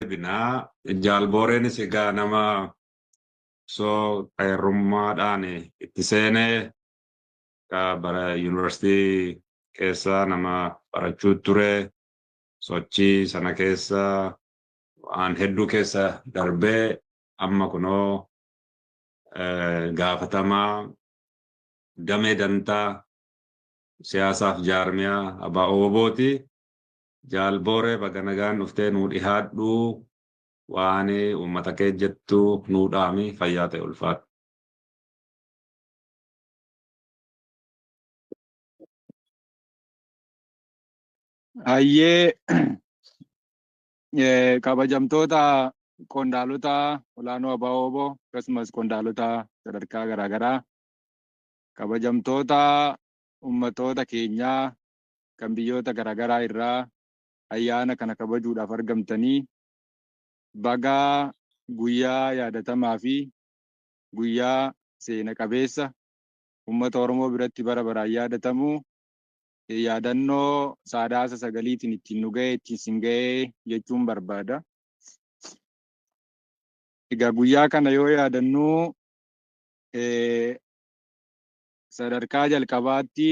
deebinaa. Jaal Booreenis egaa nama osoo xayarrummaadhaan itti seenee bara yuunivarsiitii keessa nama barachuu ture sochii sana keessa waan hedduu keessa darbee amma kunoo gaafatamaa damee dantaa siyaasaaf jaarmiyaa ABO-ti. Jaal Booree baga nagaan dhuftee nuu dhihaadhu waan uummata kee jettu nuu dhaami fayyaa ta'e ulfaadhu. Hayyee kabajamtoota qondaalota olaanoo ABO-wbo akkasumas qondaalota sadarkaa garaagaraa kabajamtoota ummatoota keenyaa kan biyyoota garaagaraa irraa ayyaana kana kabajuudhaaf argamtanii baga guyyaa yaadatamaa fi guyyaa seena qabeessa ummata Oromoo biratti bara baraan yaadatamu yaadannoo Saadaasa sagaliitiin ittiin nu ga'e ittiin sin ga'e jechuun barbaada. Egaa guyyaa kana yoo yaadannu sadarkaa jalqabaatti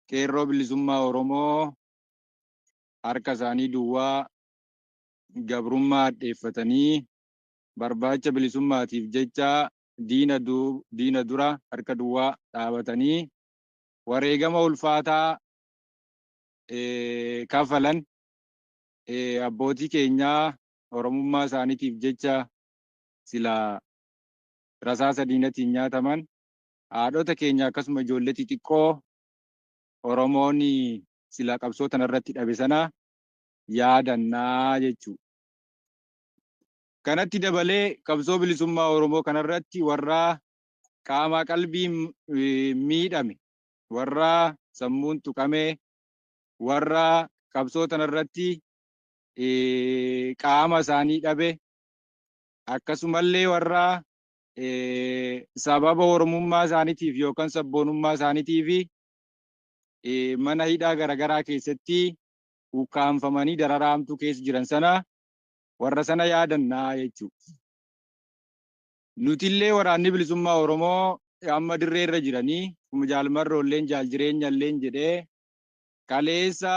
Qeerroo Bilisummaa Oromoo harka isaanii duwwaa gabrummaa hadheeffatanii barbaacha bilisummaatiif jecha diina dura harka duwwaa dhaabatanii wareegama ulfaataa kaffalan abbootii keenyaa Oromummaa isaaniitiif jecha silaa rasaasa diinatiin nyaataman Haadhota keenya akkasuma ijoollee xixiqqoo Oromoon silaa qabsoo tana irratti dhabe sana yaadannaa jechuudha. Kanatti dabalee qabsoo bilisummaa Oromoo kanarratti warra qaamaa qalbii miidhame, warra sammuun tuqame, warra qabsoo tanarratti qaama isaanii dhabe, akkasumallee warra sababa Oromummaa isaaniitiif yookaan sabboonummaa isaaniitiif mana hidhaa garaagaraa keessatti ukkaamfamanii dararaa hamtuu keessa jiran sana warra sana yaadannaa jechuudha. Nutillee waraanni bilisummaa Oromoo amma dirree irra jiranii akkuma jaalmarroolleen jaal jireenyalleen jedhee kaleessa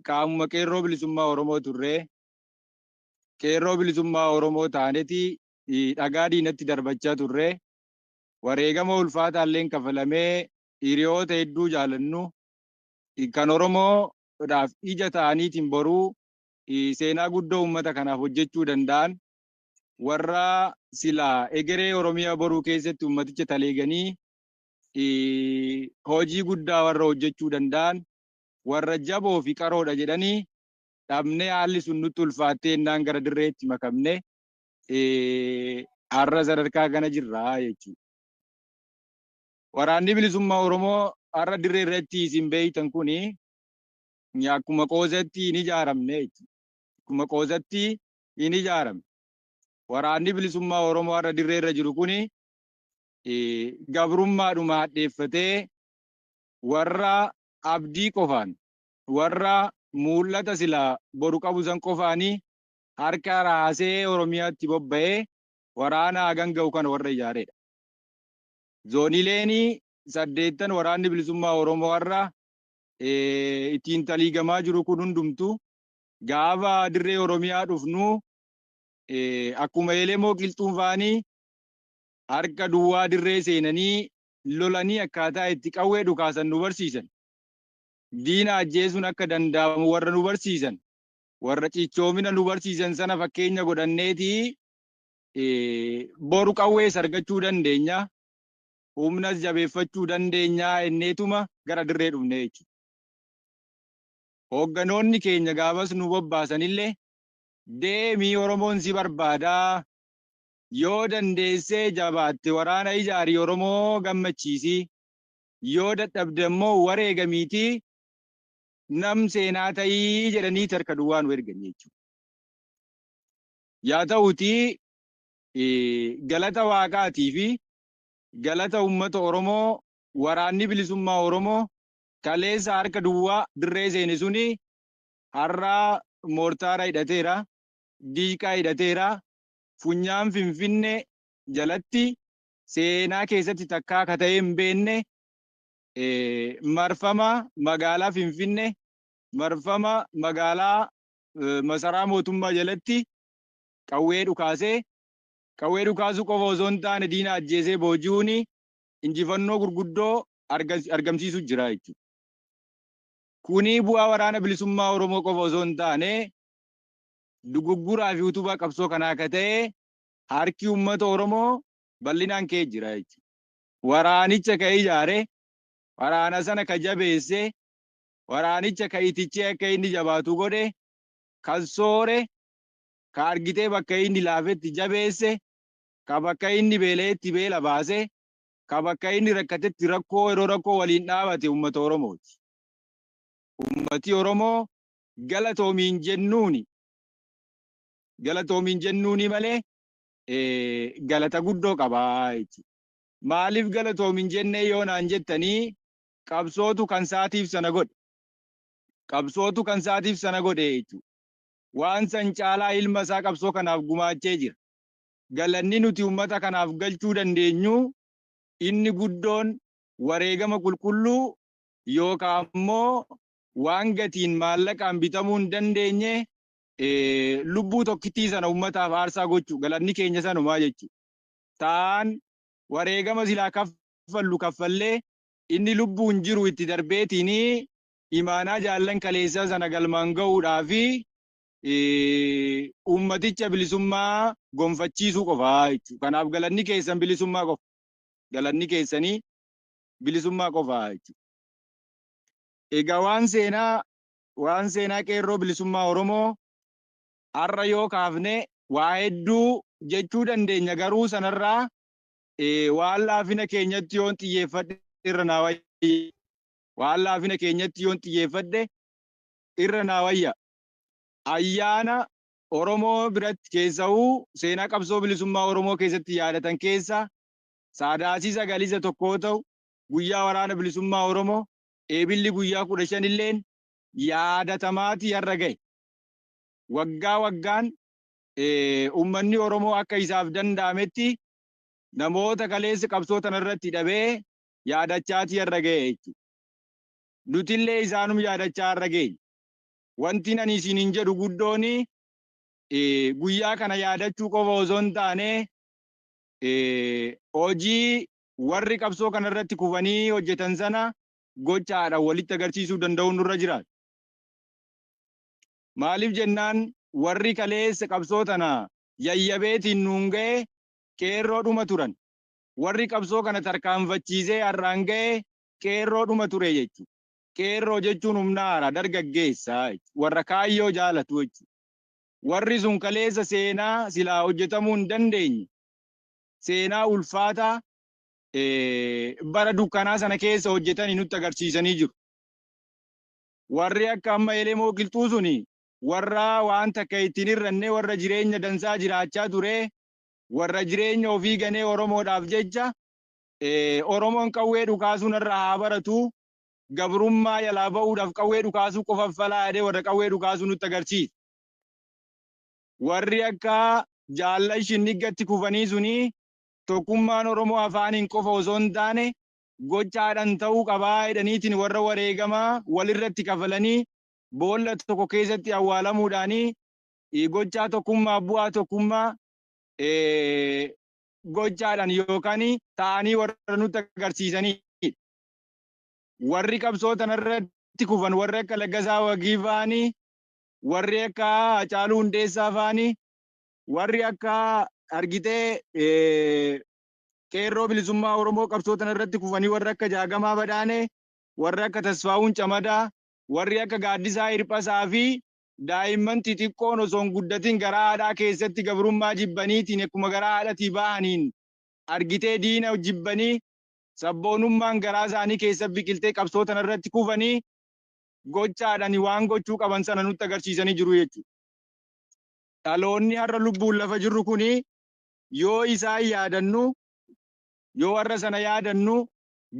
qaamuma qeerroo bilisummaa Oromoo turree qeerroo bilisummaa Oromoo taaneeti dhagaa diinatti darbachaa turre. Wareegama ulfaataalleen kafalamee hiriyoota hedduu jaalannu kan Oromoodhaaf ija ta'aniitiin boruu seenaa guddoo uummata kanaaf hojjechuu danda'an warra silaa egeree Oromiyaa boruu keessatti uummaticha taleeganii hojii guddaa warra hojjechuu danda'an warra jaboo fi qaroodha jedhanii dhabnee haalli sun nutti ulfaattee innaan gara dirreetti makamne Har'a sadarkaa kana jirra jechuudha. Waraanni bilisummaa Oromoo har'a dirree irratti isin beektan kun akkuma qoosatti hin ijaaramne jechuudha. Akkuma qoosatti hin ijaarame. Waraanni bilisummaa Oromoo har'a dirree irra jiru kun gabrummaadhuma hadheeffatee warra abdii qofaan warra mul'ata silaa boru qabu san qofaanii harka raasee Oromiyaatti bobba'ee waraana hagan ga'u kana warra ijaareedha. Zoonileenii saddeettan waraanni bilisummaa Oromoo har'a ittiin taliigamaa jiru kun hundumtu gaafa dirree Oromiyaa dhufnu akkuma Elemoo qilxuun faanii harka duwwaa dirree seenanii lolanii akkaataa itti qawwee dhukaasan nu barsiisan. Diina ajjeesuun akka danda'amu warra nu barsiisan. warra cichoomina nu barsiisan sana fakkeenya godhanneeti boru qawwees argachuu dandeenya humnas jabeeffachuu dandeenya enneetuma gara dirree dhufne jechuudha. Hoogganoonni keenya gaafas nu bobbaasanillee deemii Oromoon si barbaadaa yoo dandeessee jabaatte waraana ijaarii Oromoo gammachiisii yoo dadhabde immoo wareegamiitii nam seenaa ta'ii jedhaniiti harka duwwaa nu erganii jechuudha. Yaa ta'uutii galata waaqaatii fi galata uummata Oromoo waraanni bilisummaa Oromoo kaleessa harka duwwaa dirree seene suni har'aa moortaara hidhateera, diishqaa hidhateera, funyaan finfinne jalatti seenaa keessatti takkaa ka ta'ee hin beenne marfama magaalaa Finfinnee marfama magaalaa masaraa mootummaa jalatti qawwee dhukaasee qawwee dhukaasuu qofa osoo hin taane diina ajjeesee booji'uun injifannoo gurguddoo argamsiisu jira jechuudha. Kuni bu'aa waraana bilisummaa Oromoo qofa osoo hin taane dugugguraa fi utubaa qabsoo kanaa akka ta'e harki uummata Oromoo bal'inaan ka'ee jira jechuudha. waraanicha ka ijaare, waraana sana ka jabeesse, waraanicha ka itichee akka inni jabaatu godhe, kan soore, ka argitee bakka inni laafetti jabeesse, ka bakka inni beela'etti beela baase, ka bakka inni rakkatetti rakkoo yeroo rakkoo waliin dhaabate uummata Oromooti. Uummati Oromoo galatoomiin jennuuni. Galatoomiin jennuuni malee galata guddoo qabaa jechuudha. Maaliif galatoomi hin jennee yoo naan jettanii qabsootu kan saatiif sana godhe. Qabsootu kan saatiif sana godhe jechuudha. Waan san caalaa ilma isaa qabsoo kanaaf gumaachee jira. Galanni nuti uummata kanaaf galchuu dandeenyu inni guddoon wareegama qulqulluu yookaan immoo waan gatiin maallaqaan bitamuu hin dandeenye lubbuu tokkittii sana uummataaf aarsaa gochuu galanni keenya sanumaa jechuudha. ta'aan wareegama silaa kaffallu kaffallee inni lubbuun jiru itti darbeetiin imaanaa jaallan kaleessaa sana galmaan ga'uudhaa fi uummaticha bilisummaa gonfachiisuu qofa jechuudha. Kanaaf galanni keessan bilisummaa qofa. Galanni keessanii bilisummaa qofa jechuudha. Egaa waan seenaa waan seenaa qeerroo bilisummaa Oromoo har'a yoo kaafne waa hedduu jechuu dandeenya garuu sanarraa waan laafina keenyatti yoon xiyyeeffadhe irra naa wayya waan laafina keenyatti yoon xiyyeeffadhe irra naa wayya ayyaana Oromoo biratti keessahuu seenaa qabsoo bilisummaa Oromoo keessatti yaadatan keessa saadaasii sagaliisa tokkoo ta'u guyyaa waraana bilisummaa Oromoo eebilli guyyaa kudha shan illeen yaadatamaatii har'a gahe. waggaa waggaan ummanni Oromoo akka isaaf danda'ametti namoota kaleessa qabsoo tana irratti dhabee yaadachaatii har'a ga'e jechuudha. Nutillee isaanum yaadachaa har'a geenye. Wanti ani isiniin jedhu guddoon guyyaa kana yaadachuu qofa osoo hin taane hojii warri qabsoo kana irratti kufanii hojjetan sana gochaadhaan walitti agarsiisuu danda'uun nurra jiraata. Maaliif jennaan warri kaleessa qabsoo tana yayyabeetiin nuun gaye qeerroo dhuma turan. Warri qabsoo kana tarkaanfachiisee har'aan gaye qeerroo dhuma ture jechu. Qeerroo jechuun humna haaraa dargaggeessa warra kaayyoo jaalatu jechu. Warri sun kaleessa seenaa silaa hojjetamuu hin dandeenye seenaa ulfaataa bara dukkanaa sana keessa hojjetanii nutti agarsiisanii jiru. Warri akka amma Elemoo Qilxuu suni warra waan takka itti hin hir'anne warra jireenya dansaa jiraachaa ture warra jireenya ofii ganee Oromoodhaaf jecha Oromoon qawwee dhukaasuu narraa haa baratu gabrummaa jalaa ba'uudhaaf qawwee dhukaasuu qofa falaa jedhee warra qawwee dhukaasuu nutti agarsiisa. Warri akka jaallan shinniggatti kufanii suni tokkummaan Oromoo afaaniin qofa osoo hin taane gochaadhan ta'uu qabaa jedhaniitiin warra wareegama walirratti kafalanii boolla tokko keessatti awwaalamuudhaanii gochaa tokkummaa bu'aa tokkummaa gochaadhan yookaan ta'anii warra nutti agarsiisanii warri qabsoo tanarratti kufan warri akka Laggasaa Wagii faanii warri akka Hacaaluu Hundeessaa faanii warri akka argitee Qeerroo Bilisummaa Oromoo qabsoo tana irratti kufanii warri akka Jaagamaa Badhaanee, warri akka Tasfaawuun Camadaa, warri akka Gaaddisaa Hirphasaa fi daa'imman xixiqqoon osoo hin guddatin garaa haadhaa keessatti gabrummaa jibbaniitiin akkuma garaa haadhatii bahaniin argitee diina jibbanii sabboonummaan garaa isaanii keessa biqiltee qabsoo tana irratti kufanii gochaadhani waan gochuu qaban sana nutti agarsiisanii jiru jechuudha. Dhaloonni har'a lubbuun lafa jirru kuni yoo isaan yaadannu, yoo warra sana yaadannu,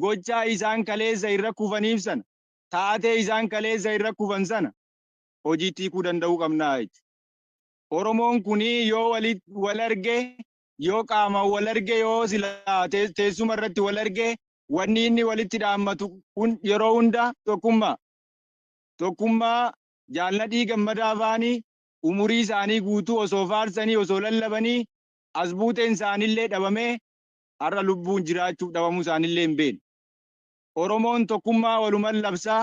gochaa isaan kaleessa irra kufaniif sana, taatee isaan kaleessa irra kufan sana hojiitti hiikuu danda'uu qabna jechuudha. Oromoon kun yoo wal arge, yoo qaamaan wal arge, yoo silaa teessuma irratti wal arge, wanni inni walitti dhaammatu yeroo hunda tokkummaa. Tokkummaa Jaal Nadhii Gammadaa faani umurii isaanii guutuu osoo faarsanii, osoo lallabanii, as buuteen isaaniillee dhabamee har'a lubbuun jiraachuuf dhabamuu isaaniillee hin beekne. Oromoon tokkummaa waluman labsa,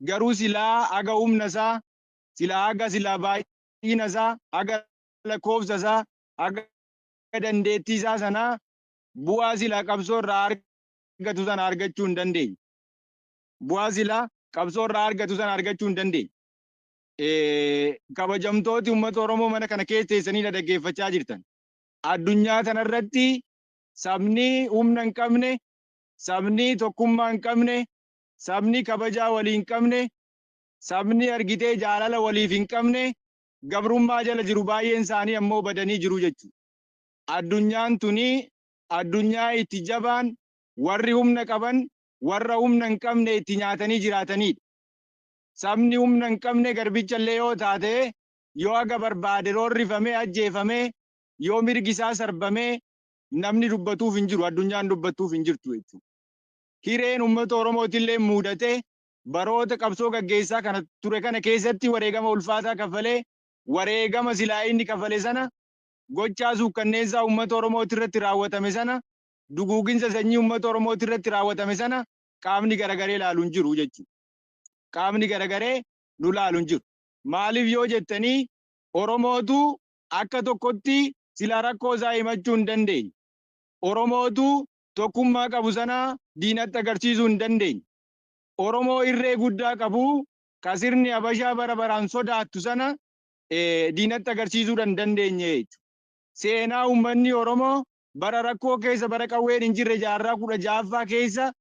garuu silaa haga humna isaa, silaa haga silaa baay'ina isaa, haga lakkoofsa isaa, haga dandeettii isaa sanaa bu'aa silaa qabsoo irraa argatu sana argachuu hin dandeenye. Bu'aa silaa qabsoo irraa argatu sana argachuu hin dandeenye. kabajamtooti uummata Oromoo mana kana keessa teessanii na dhaggeeffachaa jirtan. Addunyaa kanarratti sabni humna hin qabne, sabni tokkummaa hin qabne, sabni kabajaa walii hin qabne, sabni argitee jaalala waliif hin qabne gabrummaa jala jiru baay'een isaanii ammoo badanii jiru jechuudha. Addunyaan tuni addunyaa itti jabaan warri humna qaban warra humna hin qabne itti nyaatanii jiraatanidha. sabni humna hin qabne garbicha illee yoo taate yoo haga barbaade roorrifamee ajjeefamee yoo mirgi isaa sarbamee namni dubbatuuf hin jiru addunyaan dubbattuuf hin jirtu jechuudha. Hireen uummata Oromooti illee muudate baroota qabsoo gaggeessaa kana ture kana keessatti wareegama ulfaataa kafalee wareegama silaa inni kafale sana gochaa suukkanneessaa uummata Oromooti irratti raawwatame sana duguuginsa sanyii uummata Oromooti irratti raawwatame sana qaamni garagaree ilaalu hin jiru jechuudha. qaamni garagaree nu laalu hin jiru. Maaliif yoo jettanii Oromootu akka tokkotti silaa rakkoo isaa himachuu hin dandeenye. Oromootu tokkummaa qabu sana diinatti agarsiisuu hin dandeenye. Oromoo irree guddaa qabu ka sirni Habashaa bara baraan sodaattu sana diinatti agarsiisuudha hin dandeenye jechuudha. Seenaa uummanni Oromoo bara rakkoo keessa bara qawween hin jirre jaarraa kudha ja'affaa keessa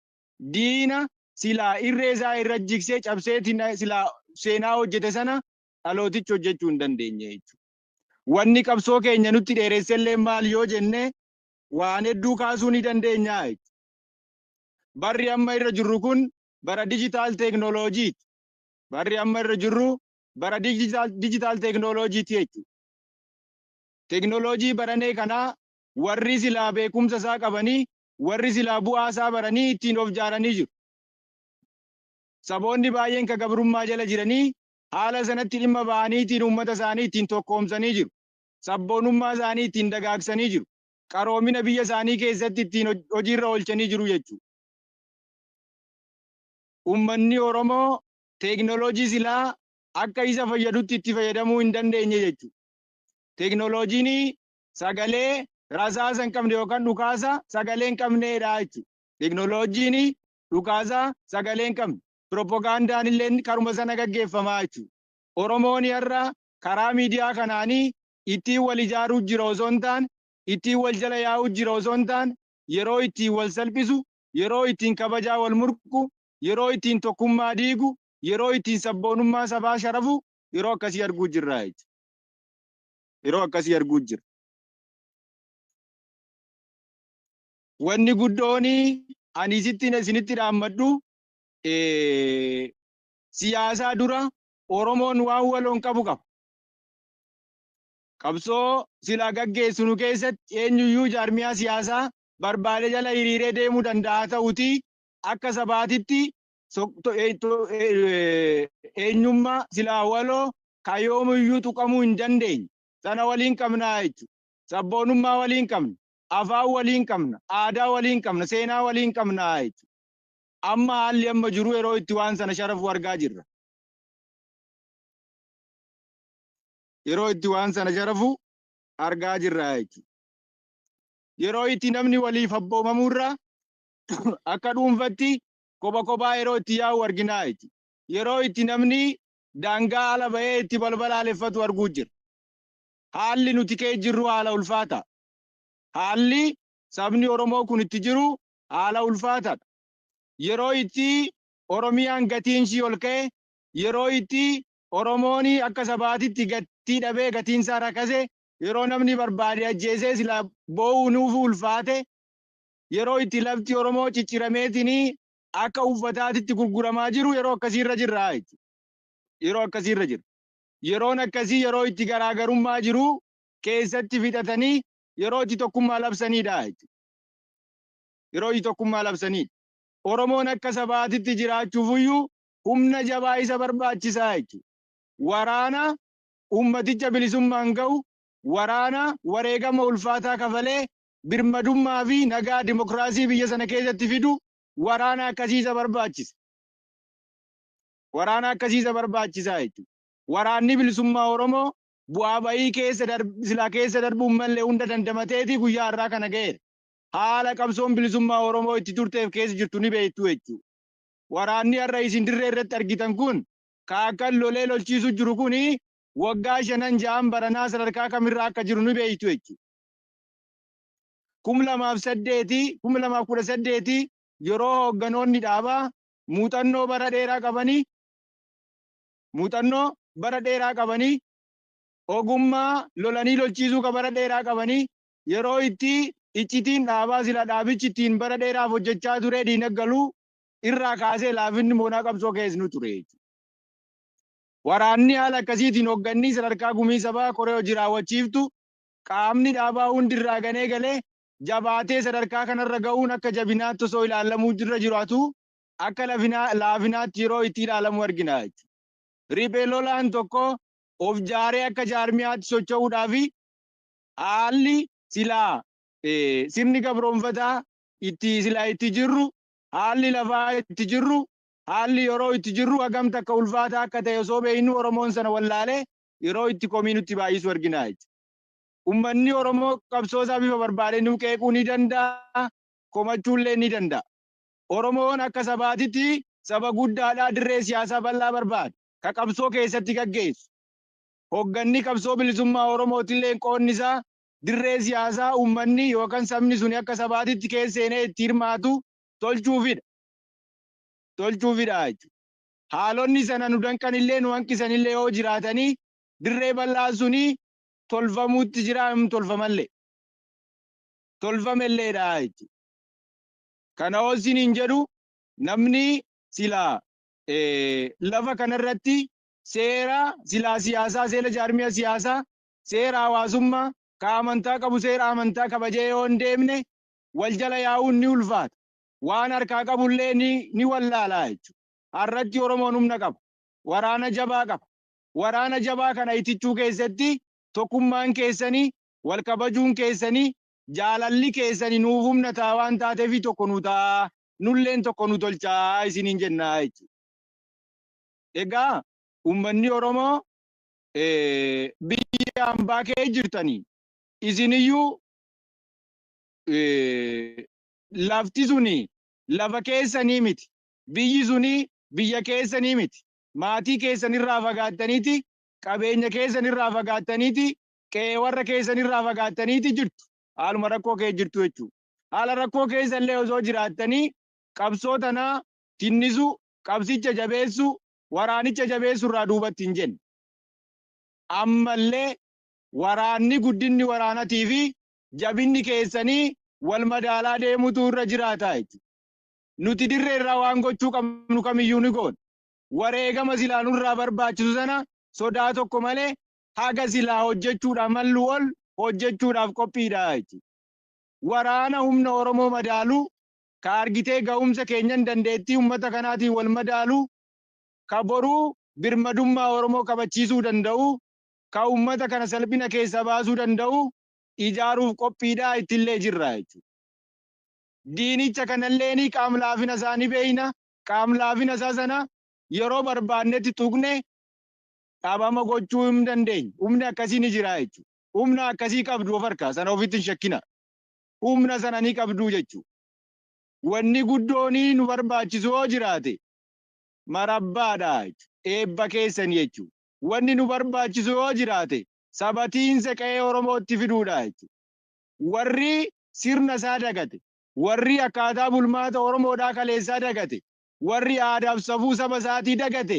diina silaa irree isaa irra jiksee cabsee silaa seenaa hojjete sana dhalootichi hojjechuu hin dandeenye jechuudha. Wanni qabsoo keenya nutti dheeressellee maal yoo jenne waan hedduu kaasuu ni dandeenya jechuudha. Barri amma irra jirru kun bara dijitaal teeknooloojiiti. Barri amma irra jirru bara dijitaal teeknooloojiiti jechuudha. Teeknooloojii baranee kanaa warri silaa beekumsa isaa qabanii warri silaa bu'aa isaa baranii ittiin of jaaranii jiru. Saboonni baay'een ka gabrummaa jala jiranii haala sanatti dhimma ba'aniitiin uummata isaanii ittiin tokkoomsanii jiru. Sabboonummaa isaanii ittiin dagaagsanii jiru. Qaroomina biyya isaanii keessatti ittiin hoj- hojiirra oolchanii jiru jechuudha. Uummanni Oromoo teeknooloojii silaa akka isa fayyadutti itti fayyadamuu hin dandeenye jechuudha. Teeknooloojiin sagalee rasaasa hin qabne yookaan dhukaasa sagalee hin qabneedha jechuudha. Teknooloojiin dhukaasa sagalee hin qabne. Piroopagaandaan illee karuma sana gaggeeffamaa jechuudha. Oromoon har'a karaa miidiyaa kanaanii ittiin wal ijaaruu jira osoo hin taane, ittiin wal jala yaa'uu jira osoo hin taane, yeroo ittiin wal salphisu, yeroo ittiin kabajaa wal murqu, yeroo ittiin tokkummaa diigu, yeroo ittiin sabboonummaa sabaa sharafu yeroo akkasii arguu jirra jechuudha. yeroo akkasii arguu jira. Wanni guddoon ani isitti isinitti dhaammadhu siyaasaa dura Oromoon waan waloon qabu qaba. Qabsoo silaa gaggeessinu keessatti eenyuyyuu jaarmiyaa siyaasaa barbaade jala hiriiree deemuu danda'a ta'uti akka sabaatitti eenyummaa silaa waloo kan yoomiyyuu tuqamuu hin dandeenye sana waliin qabna jechuudha. Sabboonummaa waliin qabna, afaan waliin qabna, aadaa waliin qabna, seenaa waliin qabna jechuudha. Amma haalli amma jiru yeroo itti waan sana sharafu argaa jirra. Yeroo itti waan sana sharafu argaa jirra jechuudha. Yeroo itti namni waliif abboomamurra akka dhuunfatti kopha kophaa yeroo itti yaa'u arginaa jechuudha. Yeroo itti namni daangaa ala ba'ee itti balbalaaleffatu arguu jira. Haalli nuti keessa jirru haala ulfaataa. Haalli sabni Oromoo kun itti jiru haala ulfaataadha. Yeroo itti Oromiyaan gatiin ishii ol ka'e, yeroo itti Oromoon akka sabaatitti gatii dhabee gatiin isaa rakase, yeroo namni barbaade ajjeesee silaa boo'uu nuuf ulfaate, yeroo itti lafti Oromoo ciccirameetiin akka uffataatitti gurguramaa jiru yeroo akkasii irra jirra jechuudha. Yeroo akkasii irra jirra. Yeroon akkasii yeroo itti garaagarummaa jiru keessatti fixatanii yeroo itti tokkummaa labsaniidha jechuudha. Yeroo itti tokkummaa labsaniidha. Oromoon akka sabaatitti jiraachuufiyyuu humna jabaa isa barbaachisaa jechuudha. Waraana ummaticha bilisummaan ga'u, waraana wareegama ulfaataa kafalee birmadummaa fi nagaa dimokiraasii biyya sana keessatti fidu waraana akkasiisa barbaachisa. Waraana akkasiisa barbaachisaa jechuudha. Waraanni bilisummaa Oromoo bu'aa ba'ii keessa darb- silaa keessa darbuun malee hunda dandamateeti guyyaa har'aa kana ga'eera. Haala qabsoon bilisummaa Oromoo itti turteef keessa jirtu ni beektu jechuudha. Waraanni har'a isin dirree irratti argitan kun kaakkan lolee lolchiisu jiru kuni waggaa shanan ja'an baranaa sadarkaa kamirraa akka jiru ni beektu jechuudha. kum lamaaf saddeeti kum lamaaf kudha saddeeti yeroo hoogganoonni dhaabaa muuxannoo bara dheeraa qabanii muuxannoo bara dheeraa qabanii ogummaa lolanii lolchiisuu ka bara dheeraa qabanii yeroo itti iccitiin dhaabaa sila dhaabichi ittiin bara dheeraaf hojjechaa turee diinaggaluu irraa kaasee laafinni moonaa qabsoo keessnu ture jechuudha. Waraanni haala akkasiitiin hoggannii sadarkaa gumii sabaa koree hojii raawwachiiftu qaamni dhaabaa hundi irraa kan eegale jabaatee sadarkaa kanarra ga'uun akka jabinaatti osoo ilaalamuu irra jiraatu akka laafinaatti yeroo itti ilaalamu argina jechuudha. Riphee lolaan tokko of jaaree akka jaarmiyaatti socho'uudhaaf haalli silaa sirni gabroomfataa itti silaa itti jirru haalli lafaa itti jirru haalli yeroo itti jirru hagam takka ulfaataa akka ta'e osoo beeknu Oromoon sana wallaalee yeroo itti komii nutti baay'isu argina jechuudha. Ummanni Oromoo qabsoo isaa bifa barbaadee nuu qeequu ni danda'a, komachuullee ni danda'a. Oromoon akka sabaatitti saba guddaadhaa dirree siyaasaa bal'aa barbaada. Ka qabsoo keessatti gaggeessu. Hogganni qabsoo bilisummaa Oromootillee qoonni isaa dirree siyaasaa ummanni yookaan sabni suni akka sabaatitti keessa seenee itti hirmaatu tolchuufidha. Tolchuufidha jechuudha. haalonni sana nu danqanillee nu hanqisanillee yoo jiraatanii dirree bal'aan suni tolfamuutti jira hin tolfamallee tolfamelleedha jechuudha. Kana yoo isiniin jedhu namni silaa lafa kanarratti seera silaa siyaasaa seera jaarmiya siyaasaa seera hawaasummaa ka amantaa qabu seera amantaa kabajee yoo hin deemne wal jala yaa'uun ni ulfaata. Waan harkaa qabullee ni, ni wallaalaa jechuudha. Har'atti Oromoon humna qaba. Waraana jabaa qaba. Waraana jabaa kana itichuu keessatti tokkummaan keessani, wal kabajuun keessani, jaalalli keessani nuuf humna ta'a waan taateefi tokko nu ta'aa, nulleen tokko nu tolchaa isiniin jenna jechuudha. Egaa ummanni Oromoo biyya ambaa kee jirtani isiniyyuu lafti suni lafa keessanii miti. Biyyi suni biyya keessanii miti. Maatii keessan irraa fagaattaniiti, qabeenya keessan irraa fagaattaniiti, qe'ee warra keessan irraa fagaattaniiti jirtu. Haaluma rakkoo keessa jirtu jechuudha. Haala rakkoo keessa illee osoo jiraattanii qabsoo tana tinnisuu, qabsicha jabeessuu, waraanicha jabeessuu irraa duubatti hin jenne. Ammallee waraanni guddinni waraanatii fi jabinni keessanii wal madaalaa deemutu irra jiraata jechuudha. Nuti dirree irraa waan gochuu qabnu kamiyyuu ni goona. Wareegama silaa nurraa barbaachisu sana sodaa tokko malee haga silaa hojjechuudhaaf malluu ol hojjechuudhaaf qophiidha jechuudha. Waraana humna Oromoo madaalu, ka argitee gahumsa keenyan dandeettii ummata kanaatiin wal madaalu, ka boruu birmadummaa Oromoo kabachiisuu danda'u, ka ummata kana salphina keessaa baasuu danda'u ijaaruuf qophiidha, ittillee jirra jechuudha. diinicha kanalleen qaam-laafina isaa ni beekna. Qaam-laafina isaa sana yeroo barbaannetti tuqnee dhabama gochuu hin dandeenyu. Humni akkasii ni jira jechuudha. Humna akkasii qabdu of harkaa, sana ofitti hin shakkinaa. Humna sana ni qabdu jechuudha. Wanni guddoon nu barbaachisu yoo jiraate marabbaadha jechuudha. Eebba keessan jechuudha. Wanni nu barbaachisu yoo jiraate sabatiinsa qe'ee Oromootti fiduudha jechuudha. Warri sirna isaa dagate, warri akkaataa bulmaata Oromoodhaa kaleessaa dagate, warri aadaaf safuu saba isaatii dagate,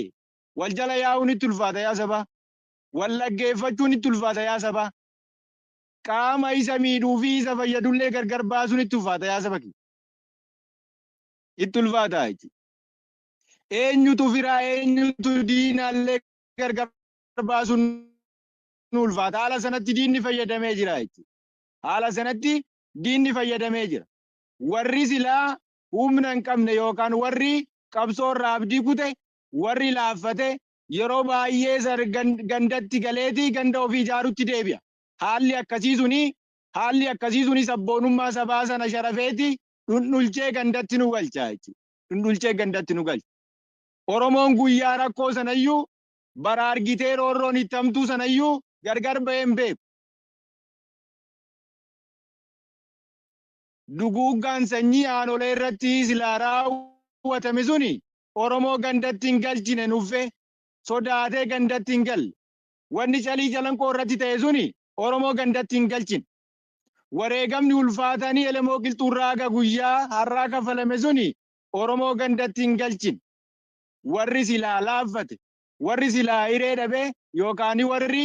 wal jala yaa'uun itti ulfaata yaa sabaa! Wal dhaggeeffachuun itti ulfaata yaa sabaa! Qaama isa miidhuu fi isa fayyadu illee gargar baasuun itti ulfaata yaa saba kiyya! Itti ulfaata jechuudha. Eenyutu firaa eenyutu diina illee gargar baasuun nu ulfaata. Haala sanatti diinni fayyadamee jira jechuudha. haala sanatti diinni fayyadamee jira. Warri silaa humna hin qabne yookaan warri qabsoo irraa abdii kute, warri laaffate yeroo baay'ee sar- gan- gandatti galeeti ganda ofii ijaarutti deebi'a. Haalli akkasii suni haalli akkasii suni sabboonummaa sabaa sana sharafeeti dhundhulchee gandatti nu galcha jechuudha. Dhundhulchee gandatti nu galcha. Oromoon guyyaa rakkoo sanayyuu bara argitee roorroon itti hamtuu sanayyuu gargar bahee hin beeku. Duguuggaan sanyii aanolee irratti silaa raawwatame suni Oromoo gandatti hin galchine nuffe sodaatee gandatti hin galle. Wanni Calii Calanqoo irratti ta'e suni Oromoo gandatti hin galchine. Wareegamni ulfaatani Elemoo Qilxuurraa haga guyyaa har'aa kaffalame suni Oromoo gandatti hin galchine. Warri silaa laaffate, warri silaa hiree dhabe yookaani warri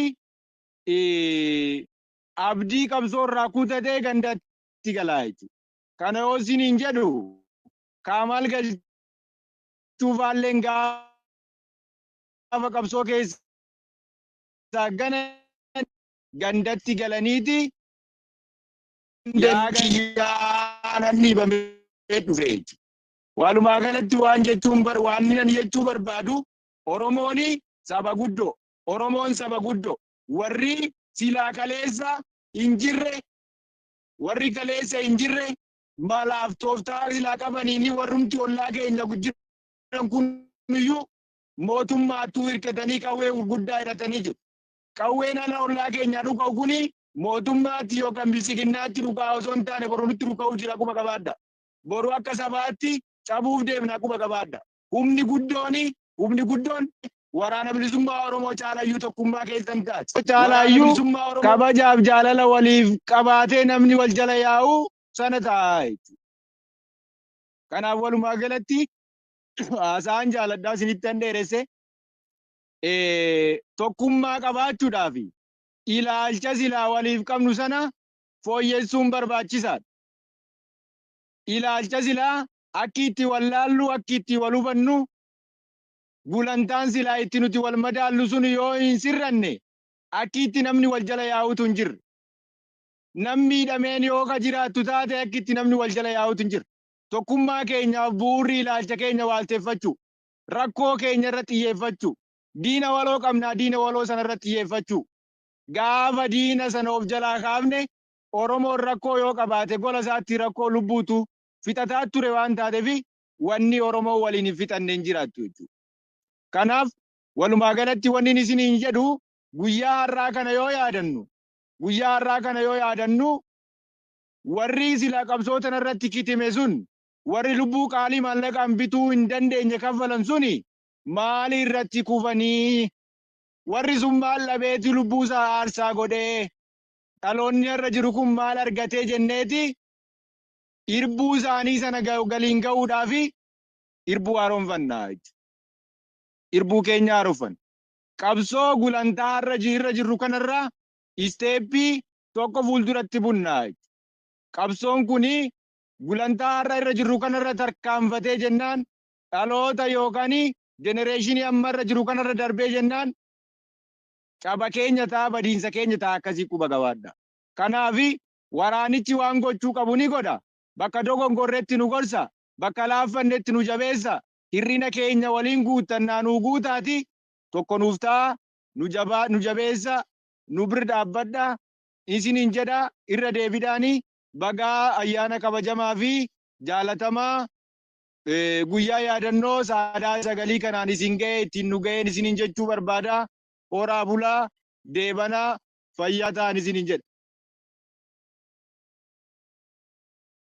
abdii qabsoo irraa kutatee gandaatti galaa jechuudha. Kana yoo isiniin jedhu kaamaal galchuu faalleen gaafa qabsoo keessaa gana gandatti galaniiti yaa gayyaa nan dhiibamee dhufe jechuudha. Walumaa galatti waan jechuun bar waan inni jechuu barbaadu Oromooni saba guddoo Oromoon saba guddo. Warri silaa kaleessa hin jirre warri kaleessa hin jirre malaaf tooftaa silaa qabaniini warrumti ollaa keenya jiran kun iyyuu mootummaattuu hirkatanii qawwee gurguddaa hidhatanii jiru. Qawween ala ollaa keenyaa dhuka'u kuni mootummaatti yookaan bilisiginnaatti dhukaa osoo hin taane boru nutti dhuka'uu jira quba qabaadha. Boru akka sabaatti cabuuf deemna quba qabaadha. humni guddooni humni guddoon waraana bilisummaa Oromoo caalayyuu tokkummaa keessan taati. Caalayyuu kabajaaf jaalala waliif qabaatee namni wal jala yaa'u sana ta'a jechuudha. Kanaaf walumaa galatti haasaan jaaladhaa isinitti hin dheeresse tokkummaa qabaachuudhaaf ilaalcha silaa waliif qabnu sana fooyyessuun barbaachisaadha. Ilaalcha silaa akki itti wal laallu, akki itti wal hubannu, gulantaan silaa itti nuti wal madaallu sun yoo hin sirranne akki itti namni wal jala yaa'utu hin jirre. Nam miidhameen yoo ka jiraattu taate akki itti namni wal jala yaa'utu hin jirre. Tokkummaa keenyaaf bu'uurri ilaalcha keenya waalteffachuu, rakkoo keenya irra xiyyeeffachuu, diina waloo qabnaa diina waloo sana irra xiyyeeffachuu. Gaafa diina sana of jalaa kaafne Oromoon rakkoo yoo qabaate gola isaatti rakkoo lubbuutu fixataa ture waan taateef wanni Oromoo waliin hin fixanne hin jiraattu jechuudha. Kanaaf walumaa galatti wanni isiniin jedhu guyyaa har'aa kana yoo yaadannu guyyaa har'aa kana yoo yaadannu warri silaa qabsoo tana irratti kitime sun warri lubbuu qaalii maallaqaan bituu hin dandeenye kaffalan suni maali irratti kufanii warri sun maal dhabeeti lubbuu isaa aarsaa godhee dhaloonni irra jiru kun maal argatee jenneeti irbuu isaanii sana galiin ga'uudhaaf irbuu haaromfanna jechuudha. Irbuu keenya haaromfanna. Qabsoo gulantaa irra irra jirru kanarraa isteeppii tokko fuulduratti bunna jechuudha. Qabsoon kun gulantaa har'a irra jirru kanarra tarkaanfatee jennaan dhaloota yookaan jenereeshinii amma irra jiru kanarra darbee jennaan caba keenya ta'a badiinsa keenya ta'a akkasii quba qabaadha. Kanaaf Waraanichi waan gochuu qabu ni godha, bakka dogongorretti nu gorsa, bakka laaffannetti nu jabeessa, hir'ina keenya waliin guuttannaa nuu guutaatii tokko nuuf ta'aa, nu jabaa, nu jabeessaa, nu bir dhaabbadhaa isiniin jedha, irra deebidhaani bagaa ayyaana kabajamaa fi jaalatamaa guyyaa yaadannoo saadaa sagalii kanaan isin ga'ee ittiin nu ga'een isiniin jechuu barbaada, horaa bulaa, deebanaa, fayyaa ta'an isiniin jedha.